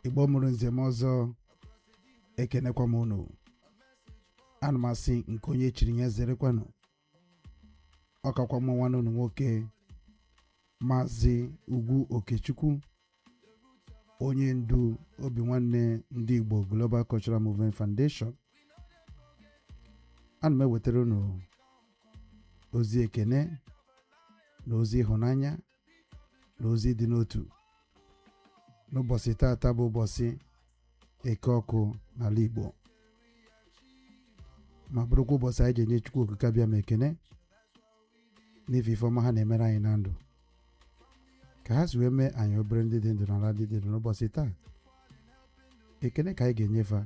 igbo mụrụ nze mụọ ọzọ ekenekwa m unu ana m asị nke onye chiri ya zerekwanụ ọ kakwa mụ nwanne unu nwoke maazị ugwu okechukwu onye ndu obi nwanne ndị igbo global cultural movement foundation ana m ewetara unu ozi ekene na ozi ịhụnanya na ozi ịdị n'otu n'ụbọchị taata bụ ụbọchị eke ọkụ n'ala Igbo ma bụrụkwa ụbọchị anyị ji enye Chukwu okike abịama ekene n'ife ife ọma ha na-emere anyị na ndụ ka ha si wee mee anyị abụrụ ndị dị ndụ n'ala ndị dị ndụ n'ụbọchị taa ekene ka anyị ga-enye fa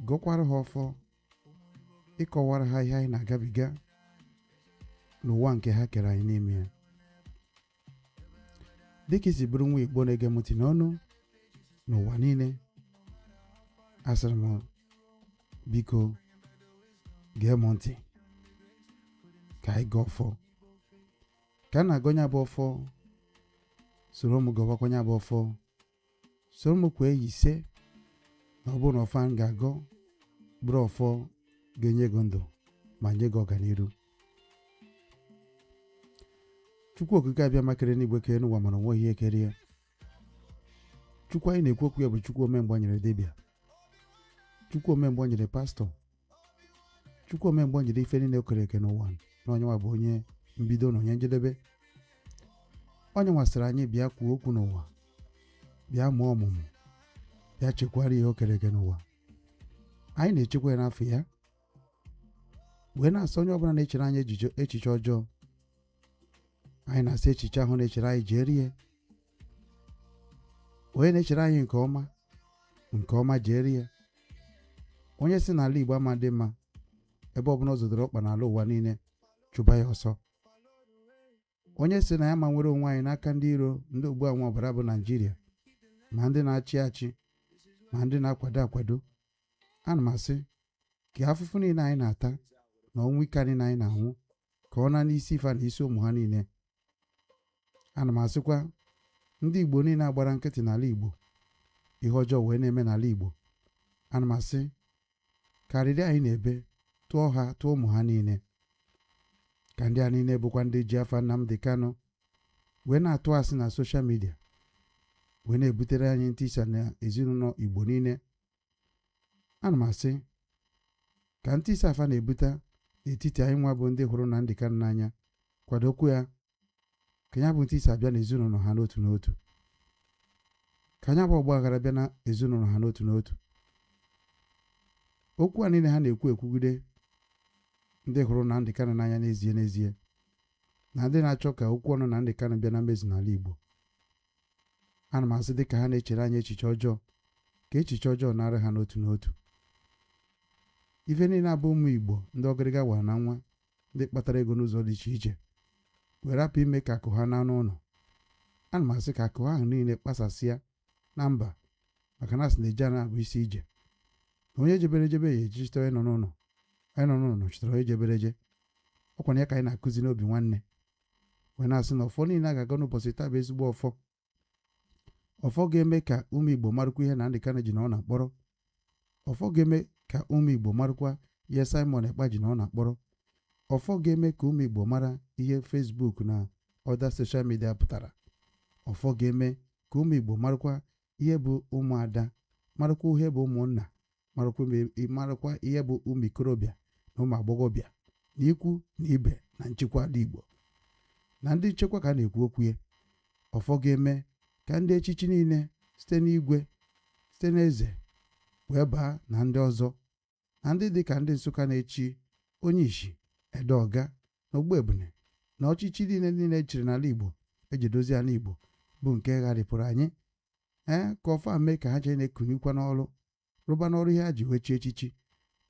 gọkwara ha ọfọ ịkọwara ha ihe anyị na-agabiga n'ụwa nke ha kere anyị n'ime ya dịka i si bụrụ nwa igbo na-ege m ntị n'ụnọ na ụwa niile asịrị m biko gee m ntị ka anyị gọọ ọfọ ka m na-agọ nya bụ ọfọ soro m gọbakwa nya bụ ọfọ soro m kwee ya ise na ọ bụrụ na ọfọ a m ga-agọ bụrụ ọfọ ga-enye gị ndụ ma nye gị ọganiru chukwu okike abịama kere enu igwe kere enu ụwa mana o nwerọ ihe kere ya chukwu anyị na-ekwu okwu ya bụ chukwu ome mgbe ọ nyịrị dibịa chukwu ome mgbe ọ nyịrị pastọ chukwu ome mgbe ọ nyịrị ife niile o kere eke n'ụwa na ọ nya nwa bụ onye mbido na onye njedebe ọ nya nwa sịrị anyị bịa kwuo okwu n'ụwa bịa mụọ ọmụmụ bịa chekwara ihe o kere eke n'ụwa anyị na-echekwa ya n'afa ya wee na-asị onye ọbụla na-echere anyị echiche ọjọọ anyị na-asị echiche ahụ na-echere anyị jeere ya onye na-echere anyị nke ọma nke ọma jeere ya onye sị na ala igbo ama adị mma ebe ọbụla ọ zọdoro ọkpa n'ala ụwa niile chụba ya ọsọ onye sị na anyị ama enwere onwe anyị n'aka ndị iro ndị ogbu aṅụọ ọbara bụ naijiria ma ndị na-achị achị ma ndị na-akwado akwado ana m asị ka afụfụ niile anyị na-ata na ọnwụ ike niile anyị na-anwụ ka ọ naa n'isi fa na isi ụmụ ha niile ana m asịkwa ndị igbo niile a gbara nkịtị n'ala igbo ihe ọjọọ wee na-eme n'ala igbo ana m asị ka arịrị anyị na-ebe tụọ ha tụọ ụmụ ha niile ka ndị a niile bụkwa ndị ji afa Nnamdi Kanu wee na-atụ asị na soshal midia wee na-ebutere anyị ntisa na ezinụlọ igbo niile ana m asị ka ntisa a fa na-ebute n'etiti anyị nwa bụ ndị hụrụ Nnamdi Kanu n'anya kwado okwu ya ka ya bụ ntisa bịa n'ezinụlọ ha n'otu n'otu ka nya bụ ọgba aghara bịa na ezinụlọ ha n'otu n'otu okwu a niile ha na-ekwu ekwugide ndị hụrụ Nnamdi Kanu n'anya n'ezie n'ezie na ndị na-achọ ka okwu ọnụ Nnamdi Kanu bịa na mmezu n'ala Igbo ana m asị dị ka ha na-echere anyị echiche ọjọọ ka echiche ọjọọ naara ha n'otu n'otu ife niile a bụ ụmụ Igbo ndị ọgịrịga wara na nwa ndị kpatara ego n'ụzọ dị iche iche were rapụ ime ka akụ ha naa n'ụlọ ana m asị ka akụ ahụ niile kpasasịa na mba maka na a sị na e jee a naa bụ isi ije na onye jebere ejebe ya ejechite onye nọ n'ụlọ onye nọ n'ụlọ nọchitere onye jebere eje ọ kwanụ ya ka anyị na-akụzi n'obi nwanne wee na-asị na ọfọ niile a ga-agọ n'ụbọchị taa bụ ezigbo ọfọ ọfọ ga-eme ka ụmụ igbo marụkwa ihe Nnamdi Kanu ji nọ na mkpọrọ ọfọ ga-eme ka ụmụ igbo marụkwa ihe Simon Ekpa ji nọ na mkpọrọ ọfọ ga-eme ka ụmụ igbo mara ihe Facebook na other social media pụtara ọfọ ga-eme ka ụmụ igbo marụkwa ihe bụ ụmụada marụkwa ihe bụ ụmụnna marụkwa ihe bụ ụmụ ikorobịa na ụmụ agbọghọbịa na ikwu na ibe na nchekwa ala Igbo na ndị nchekwa ka a na-ekwu okwu ya ọfọ ga-eme ka ndị echichi niile site n'igwe site n'eze wee baa na ndị ọzọ na ndị dị ka ndị Nsụka na-echi onye ishi ede ọga na ogbu ebune na ọchịchị niile niile e chiri n'ala Igbo e ji dozie ala Igbo bụ nke gharịpụrụ anyị ee ka ọfọ a mee ka ha jee na-ekunikwa n'ọrụ rụba n'ọrụ ihe ha ji wee chi echichi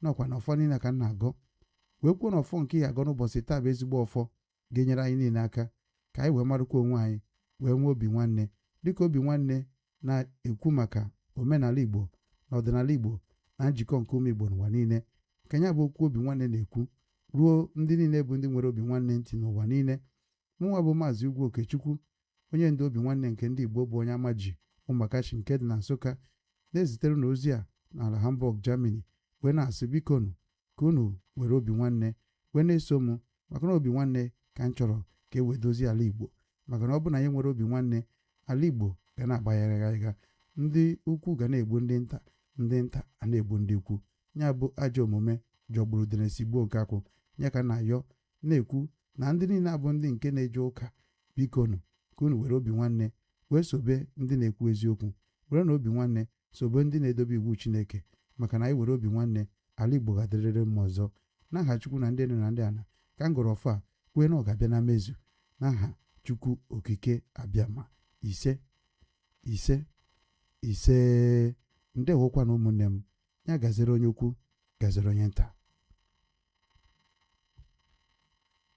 na ọ kwa na ọfọ niile ka m na-agọ wee kwuo na ọfọ nke a ya-agọ n'ụbọchị taa bụ ezigbo ọfọ ga-enyere anyị niile aka ka anyị wee marụkwa onwe anyị wee nwee obi nwanne dịka obi nwanne na-ekwu maka omenala Igbo na ọdịnala Igbo na njikọ nke ụmụ Igbo n'ụwa niile ka ya bụ okwu obi nwanne na-ekwu ruo ndị niile bụ ndị nyere obi nwanne ntị n'ụwa niile mụnwa bụ maazị Ugwu Okechukwu onye ndu obi nwanne nke ndị Igbo bụ onye Amaji Umakashi nke dị na Nsụka na-ezitere unu ozi a n'ala Hamburg, Germany wee na-asị bikonu ka unu were obi nwanne wee na-eso m maka na obi nwanne ka m chọrọ ka e wee dozie ala Igbo maka na ọ bụ na anyị enwerọ obi nwanne ala Igbo ga na-agba gharịgharịga ndị ukwu ga na-egbu ndị nta ndị nta a na-egbu ndị ukwu ya bụ ajọ omume jọgburu udene sigbuo nkakwụ ya ka na-ayọ na-ekwu na ndị niile abụ ndị nke na-eje ụka bikonu ka unu were obi nwanne wee sobe ndị na-ekwu eziokwu werenụ obi nwanne sobe ndị na-edobe iwu Chineke maka na anyị were obi nwanne ala Igbo ga-adịrịrị mma ọzọ n'aha Chukwu na ndị enu na ndị ana ka m gọrọ ọfọ a kwee na ọ ga-abịa na mmezu n'aha Chukwu Okike Abịama ise ise ise ndewokwanụ ụmụnne m ya gaziri onye ukwu gaziri onye nta